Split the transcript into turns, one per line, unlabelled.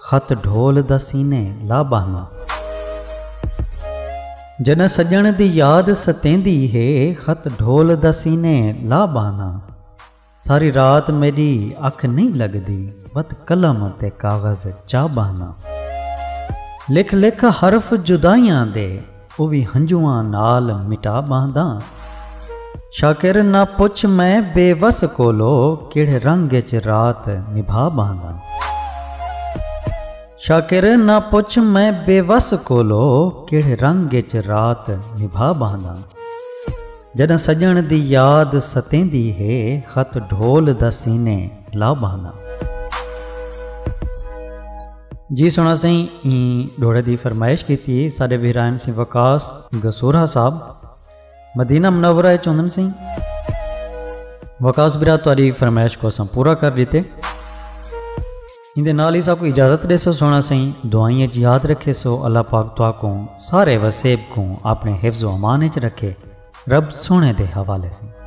خط ڈھول دا سینے لا ٻہنا۔ جݙاں سڄݨ دی یاد ستیندی ہے خط ڈھول دا سینے لا ٻہنا۔ ساری رات میݙی اکھ نئیں لڳدی وت قلم تے کاغذ چا ٻہنا۔ لکھ لکھ حرف جدائیاں دے۔ او وی ہنجواں نال مٹا ٻہنداں۔ شاکر نہ پچھ میں بے وس کولو کیڑھے رنگ اچ رات نبھا ٻہنداں۔ شاکر نہ پچھ میں بے وس کولو کیڑھے رنگ اچ رات نبھا ٻہنداں۔ جݙاں سڄݨ دی یاد ستیندی ہے خط ڈھول دا سینے لا ٻہنداں۔ جی سونا سائیں این ڈھوڑے دی فرمائش کیتی ساڈے ویرائن سائیں وقاص گسورہ صاحب مدینہ منورہ اچ ہوندن سائیں وقاص برا تہاڈی فرمائش کو اساں پورا کر دیتے ان دے نال ہی سا کو اجازت دے سو سونا سائیں دعائیں اچ یاد رکھے سو اللہ پاک تو کو سارے وسیب کو اپنے حفظ و امان اچ رکھے رب سونے دے حوالے سائیں